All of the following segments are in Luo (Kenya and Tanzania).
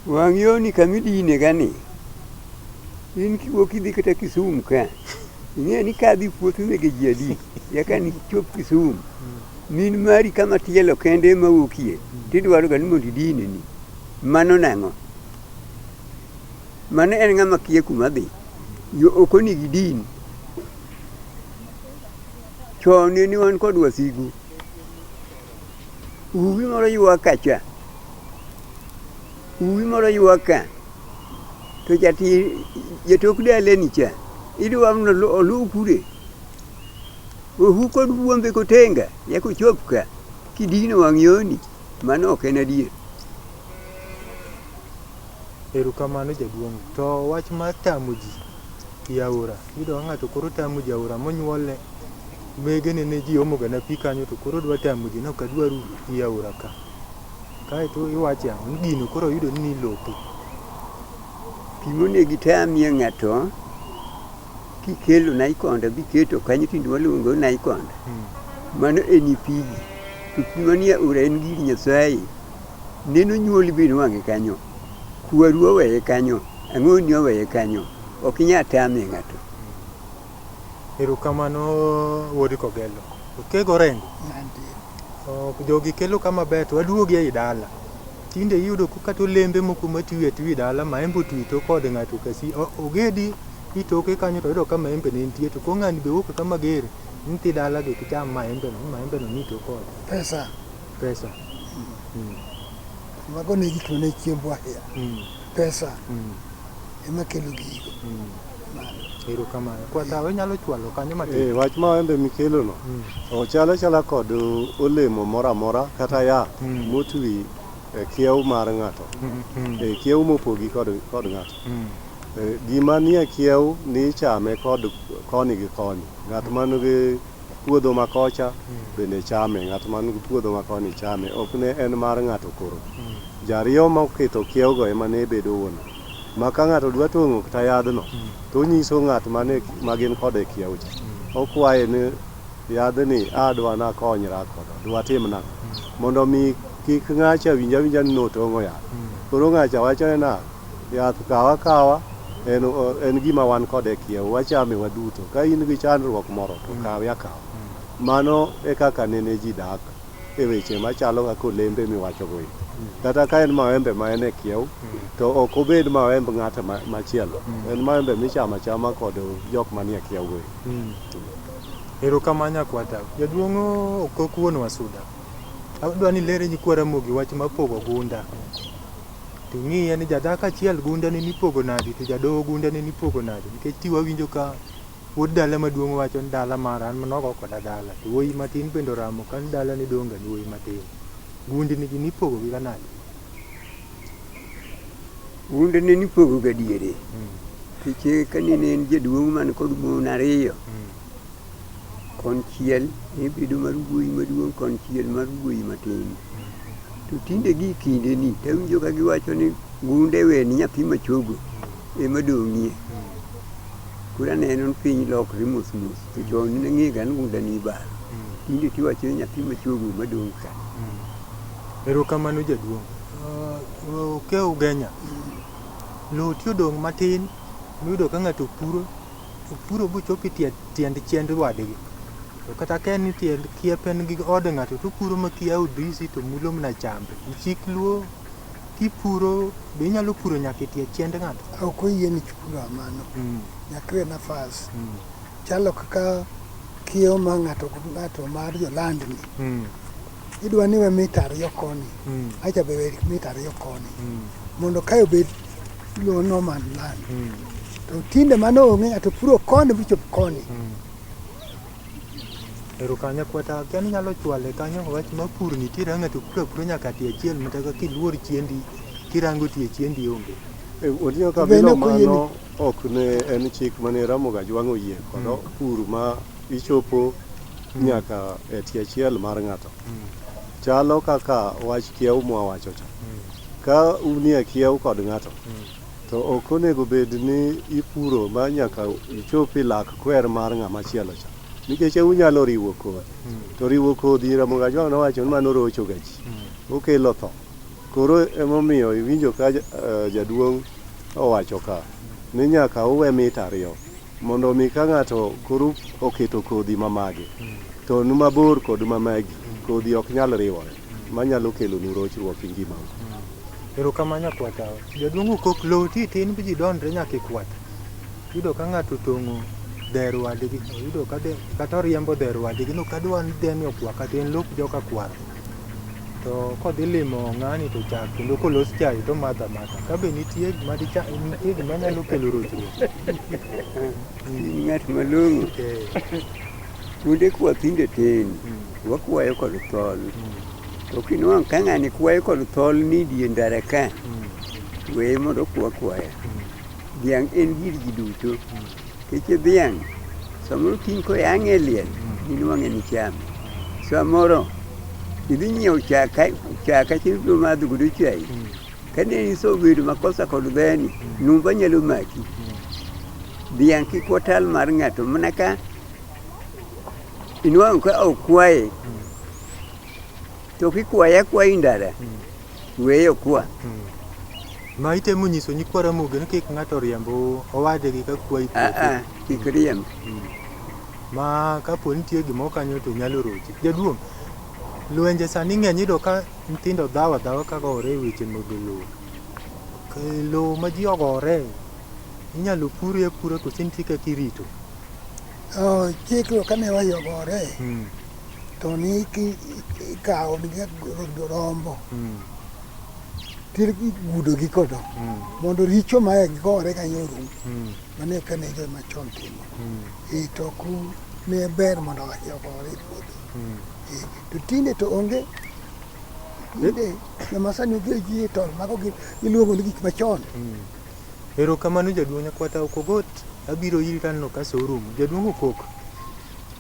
wang' yoni kama idine gani in kiwuok idhi kata Kisumu ka ing'e ni ka adhi puoth mege ji adi yaka ni chop Kisumu min mari kama tielo kende ma wuokie tidwaro ga ni mondo idine ni mano nang'o Mano en ng'ama kiye kuma dhi. Yo ok onigi din. Chon ne wan kod wasigu. Uwi moro ywak kacha. Uwi moro ywak ka. To jati jatok daleni cha. Idwa ni olu- oluw kude. Ohu kod buombe kotenga. Nyaka ochop ka. Kidino wang' yoni. Mano ok en adier. Erokamano jaduong'. To wach mar tamo ji e aora, iyudo ka ng'ato koro tamo ji e aora monyuolne, wegene ne ji omo gana pi kanyo to koro odwa tamo ji ni ok adwaru pi e aora ka. Kaeto iwache ang'o? Ni gino koro oyudo ni nilope. Pi monego itamie ng'ato, kikelo naikonda biketo kanyo tinde waluongo ni naikonda, Hmm. mano en pigi. To pi manie aora en gir Nyasaye. Neno nyuoli be nwang'e kanyo, kwaru oweye kanyo, ang'oni oweye kanyo. Ok inyal tamie ng'ato. Erokamano wuod Kogelo. Okego orengo. Ok, jogi kelo ka maber to waduogi ei dala. Tinde iyudo ko- kata olembe moko matwi atwi dala, maembe otwi to kod ng'ato kasi. O- Ogedi itoke kanyo to yudo ka maembe ne nitie to koro ng'ani be wuok ka mager ni ti dalagi to icham maembe no, maembe no ni to kode. Pesa. Pesa. Mm. Mago ne gik mane chiembwa ahinya. Mm. Pesa. Mm. Ema kelo gigo. Mm. Ero kamano. Kwa tawe nyalo chwalo kanyo matin. Eh, wach ma wembe mikelo no. Mm. Ochalo chala kod olemo mora mora kata ya mm. motwi e kiew mar ng'ato. Mm. Mm. E kiew mopogi kod kod ng'ato. Mm. E, gima nie kiew ni chame kod koni gi koni. Ng'at man gi Puodho ma kocha bende chame, ng'at man gi puodho ma koni chame, ok ne en mar ng'ato koro. Jariyo moketho kiewogo ema ne bedo wuon ot, ma ka ng'ato dwa tong'o kta yadhno, to onyiso ng'at mane ma gin kode e kiewo cha, okwaye ni yadhni a dwa nakonyra kodo, dwa tim nang'o. Mondo mi kik ng'acha winj awinja ni notong'o yath. Koro ng'acha wachone nang'o? Yath kaw akawa en en gima wan kode e kiewo, wachame waduto. Ka in gi chandruok moro to kawe akawa. Mano e kaka nene ji dak e weche machalo kaka olembe miwacho go eko. Kata ka en mawembe ma en e kiewo to ok obed mawemb ng'at machielo. En mawembe michamo achama kod jok manie kiewo go eko. Erokamano nyakwa Tau. Jaduong' Okok wuon Wasuda, adwa ni ilerne nyikwa Ramogi wach mar pogo gunda. To ing'iye ni jadhako achiel gundene nipogo nadi to jadoho gundene nipogo nadi nikech ti wawinjo ka wuod dala maduong' wacho ni dala mar an nogo koda dala to wuoyi matin bende oramo ka ni dala ni dong' ga ni wuoyi matin. Gundni gi nipogo gi ga nadi? Gundene nipogo ga diere. Nikech ka nene en jaduong' man kod mon ariyo. Konchiel ne bedo mar wuoyi maduong', konchiel mar wuoyi matin. To tinde gi kindeni, to awinjo ka giwacho ni gunde we ni nyathi machogo ema dong'ie. Koro aneno ni piny lokre mos mos, to chon ne ng'ega ni gunda ne ibaro. Tinde to iwacho ni nyathi machogo ema dong' ka. Erokamano jaduong'. Uh, Okew Genya, lowo ti odong' matin miyudo ka ng'ato puro Opuro bochopo e tie tiend chiend wadgi. To kata ka en tiend kiep en gi od ng'ato to opuro ma kia odisi to mulo mana chambe. Chik luo kipuro be inyalo puro nyaka e tie chiend ng'ato. Ok oyie ni kipuro amano. Mm. Nyaka iwe nafas. Mm. Chalo kaka kiewo ma ng'ato gi ng'ato mar jolandni. Mm. Idwa ni we mita ariyo koni. Mm. Acha be we mita ariyo koni. Mm. Mondo kae obed Lowo no man land. Mm. To tinde mano onge ng'ato puro koni bichop koni. Mm. Ero kanya kwata kani nyalo chwale kanyo wach ma pur nitiere ng'ato puro puro nyaka tie chiel mata ka kiluor chiendi kirango tie chiendi onge. E, Odinga ka bilo mano ok ne en chik mane Ramoga jwang' oyie kodo mm. pur ma ichopo mm. nyaka e tie chiel mar ng'ato. Mm. Chalo kaka wach kiew mwa wacho cha. Mm. Ka unie kiewo kod ng'ato, to ok onego bed ni ipuro ma nyaka ichop e lak kwer mar ng'ama chielo cha, nikech e unyalo riwo kodhi. To riwo kodhi, Ramogi Ajwang' nowacho ni mano rocho ga ji, okelo tho. Koro emomiyo iwinjo ka jaduong' owacho ka ni nyaka uwe mita ariyo mondo omi ka ng'ato koro oketo kodhi ma mage, to ni mabor kod ma magi, kodhi ok nyal riwore. manyalo kelonu rochruok e ngimau. Erokamano nyakwar tawa. Jaduong' Okok, lowo ti tin ji donre nyaka e kwath. Iyudo ka ng'ato otong'o dher wadgi, oyudo ka de, kata oriembo dher wadgi, no kadwa ni dheni okwa kata en lop joka kwaro. To kodhi limo ng'ani to chak kendo kolos chai to omadho amadha. Ka be nitie gima dicha, nitie gima nyalo kelo rochruok. Ng'at malong'o Eh, Kuonde kwa tinde tin, wakwayo kod thol. To kinwang' ka ng'ani kwayo kod thol ni die ndara ka, weye mondo kwa kwaya. Dhiang' en gir ji duto. Keche dhiang' samoro kiny koyang'e e liel, inwang'e ni chame. Samoro idhi nyiewo chak ka chak achiel ibiro madho godo chai, Kane iso bedo makosa kod beni, numba nyalo maki. Dhiang' kik watal mar ng'ato mana ka inwang'o ka okwaye to kikwaye akwayi ndara weye okwa. Ma itemo nyiso nyikwa Ramogi ni kik ng'ato riemb owadgi ka kwayi Ah, puothe. ah, kik riemb. Ma kapo nitie gimoro kanyo to nyalo rochi. Jaduong', lwenje sani ng'eny iyudo ka Nyithindo dhawo adhawa ka gore e weche mag lowo. Lowo ma ji ogore inyalo pure apura koso nitie kaka irito? Chikruok kane wayo gore hmm. to ni ikawo rombo hmm. tigudogi kodo hmm. mondo richo mae gore kanyo orum mane kane jo machon timo. Itoku ne ber mondo wayo gore e puodho. To tinde to onge tinde joma sani odhi ji e tol mago gi iluongo ni gik machon. Erokamano jaduong' Nyakwata Okogot, abiro iri taneno ka sa orumo. Jaduong' Okok,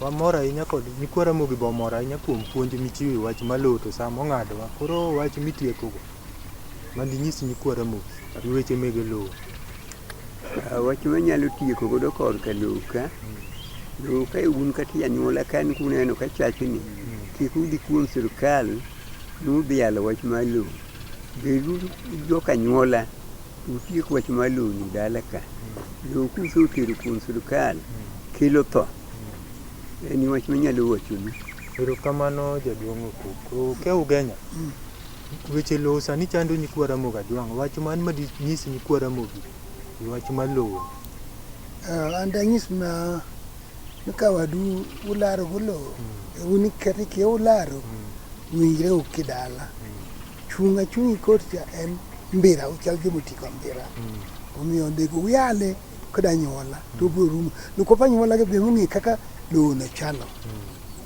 wamor ahinya kod nyikwa Ramogi be omor ahinya kuom puonj michiwo e wach ma lowo to sa mong'adowa. Koro wach mitiekogo. Mondo inyis nyikwa Ramogi gi weche mege lowo. Wach manyalo tieko godo korka lowo ka, lowo ka un kata e anyuola ka ni kuneno ka chachni, kik udhi kuom sirkal ni udhi yalo wach mar lowo. Beduru jok anyuola to utiek wach mar lowo ni dala ka. Lowo kusetero kuom sirkal kelo tho. En e wach manyalo wachonu. Erokamano jaduong' Okuku. Ke Ugenya. Weche lowo sani chando nyikwa Ramogi Ajwang'. Wach man ma dinyis nyikwa Ramogi e wach mar lowo. Uh, an danyis ma ni ka wadu ularo go lowo e un ikete kia ularo winjre u kidala chung' achung' ikot cha en mbira uchal joma oti kod mbira omiyo onego uyale kod anyuola to obiro rumo nikop anyuola gi biro ng'e kaka lowo no chalo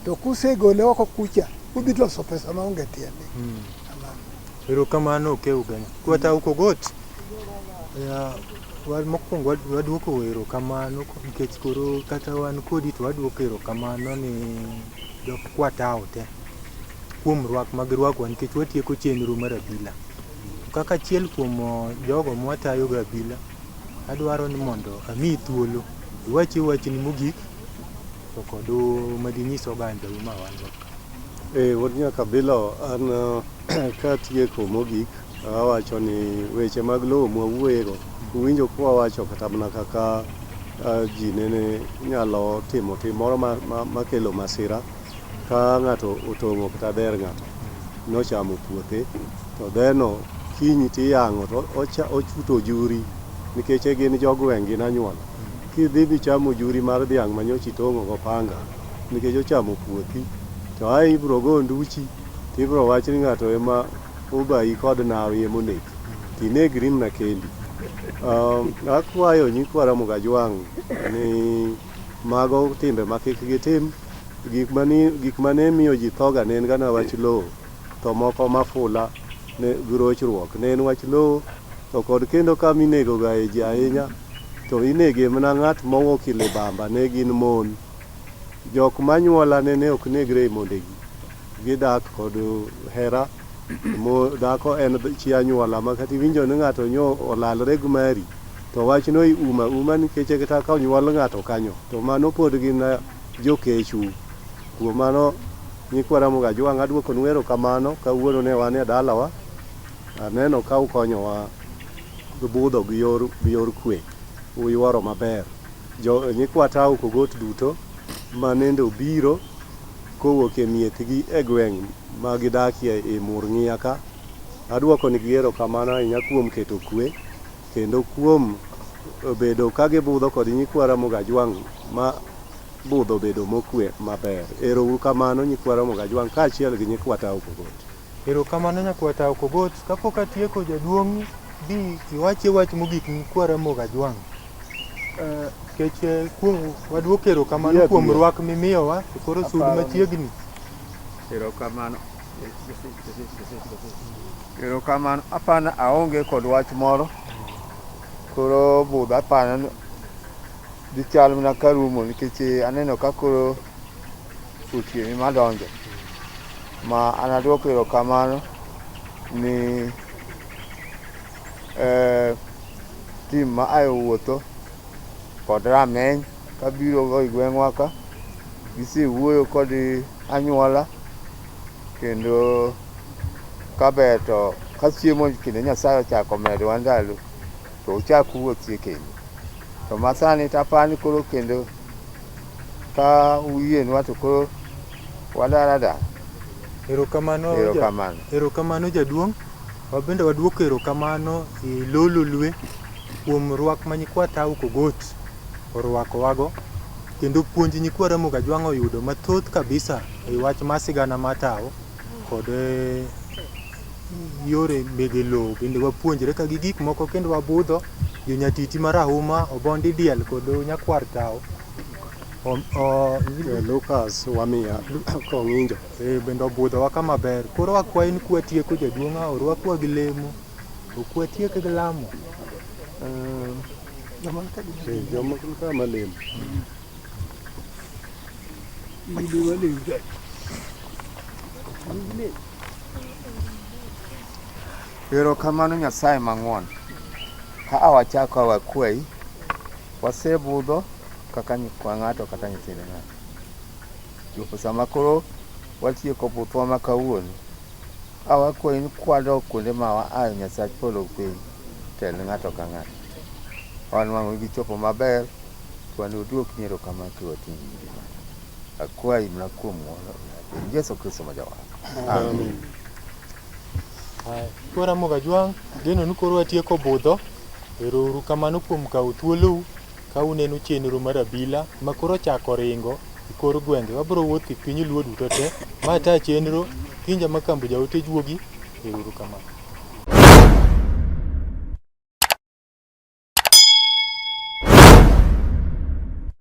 to kusegole oko kucha udhi loso pesa maonge tiende erokamano okeu gani kwata ukogot mokwongo wadwoko erokamano nikech koro kata wan kodi to wadwoko erokamano ni jok kwatawo te kuom rwak ma girwakowa nikech watieko chenro mar abila kaka achiel kuom jogo mwatayogo abila Adwaro ni mondo amiyi thuolo iwachi wachni mogik to kod madinyis ogandau ma wan go ka. Eh, wuod Nyakabilo, an katieko mogik awacho ni weche mag lowo mwawuoyego uwinjo kwawacho kata mana kaka ji nene nyalo timo tim moro makelo masira Ka ng'ato otong'o kata dher ng'ato nochamo puothe, to dherno kiny tiyang'o to ochuto ojuri nikech gin jogweng' gin anyuola. Kidhi bichamo ojuri mar dhiang' manyocha itong'o gopanga nikech ochamo puothi to ae ibiro go onduchi to ibiro wach ni ng'ato ema obayi kod nawi ema onegi to inegri mana kendi. Akwayo nyikwa Ramogi Ajwang' ni Mago timbe ma kik gitim. Gik ma ne miyo ji thoga ne en gana wach lowo, to moko mafula gi rochruok. Ne en wach lowo, to kod kendo kama inegogae ji ahinya, to inege mana ng'at mowo kilibamba ne gin mon. Jok ma nyuolane ne ok negre e mondegi. Gidak kod hera. Mo dhako en chi anyuola ma kata iwinjo ni ng'ato nyo olalre gi mari to wachno iuma uma nikech kata ka onyuol ng'ato kanyo to mano pod gin jokechu. Kuom mano nyikwa Ramogi Ajwang' aduokonu erokamano kawuono ne wan e dalawa. Aneno ka ukonyowa budho gi yor gi yor kwe. Uyuoro maber. Jo nyikwa Tau Kogot duto manende obiro. kowuok e miechgi e gweng' ma gidakie i Murng'ia ka. Adwokonigi erokamano ahinya kuom keto kuwe, kendo kuom bedo ka gibudho kod nyikwa Ramogi Ajwang' ma budho obedo mokuwe maber. Ero uru kamano nyikwa Ramogi Ajwang' kaachiel gi nyikwa Tao Pokot. Erokamano nyakwar Tao Kogot, kapok atieko jaduong' bi iwachi wach mogik ni kwa Ramogi Ajwang'. Eh, Kech eh, kuom wadwok erokamano Yep, kuom yep. rwak mimiyowa e koro sud Aparo ni- machiegni. Erokamano. Erokamano. Apana aonge kod wach moro. Koro budho apana ni Dhi chal mana ka rumo nikech eh, aneno ka koro otieni madonjo ma anaduoko erokamano ni eh, tim ma ae owuotho kod rameny kabirogo i gweng'wa ka gisewuoyo kod anyuola kendo kaber to ka chiemo kendo nyasaye ochako medowa ndalo To uchak uwuothie kendo. To masani to apani koro kendo ka uyienwa to koro wadar adar. Erokamano ja- Erokamano. erokamano jaduong'. Wabende waduoko erokamano e lo Lolwe kuom rwak ma nyikwa Tau Kogot orwakowago kendo puonj nyikwa Ramogi Ajwang' oyudo mathoth kabisa e wach mar sigana mar Tau kod eh, yore mege lowo bende wapuonjre ka gi gik moko kendo wabudho jo nyatiti marahuma, obondi diel kod nyakwar tao. Lucas wamiya kong'injo. Ee bende obudhowa ka maber. Koro wakwayi ni kwatieko jaduong' a orwakwa gi lemo. Ok watiek gi lamo. Joma ka malemo. Ibi walem. Erokamano Nyasaye mang'won. Ka a wachako a wakwayi, wasebudho kaka nyikwa ng'ato kata nyithind ng'ato. Chopo sama koro watieko buthwa ma kawuono, a wakwayi ni kwadok kuonde ma waayo Nyasach polo gi piny, tel ne ng'ato ka ng'ato. Wan wang'wa gichopo maber, to wan oduokni erokamano kiwating'o. Akwayi mna kuom ng'wono e Yesu Kristo ma jawarwa. Amin. Kora Mogajwang', geno ni koro watieko budho. Ero uru kamano kuom kawo thuolou ka uneno chenro mar abila ma koro chako ringo e kor gwenge. Wabiro wuotho e piny Luo duto te. Ma ta chenro Kinja Makambo jaote juogi. Ero uru kamano.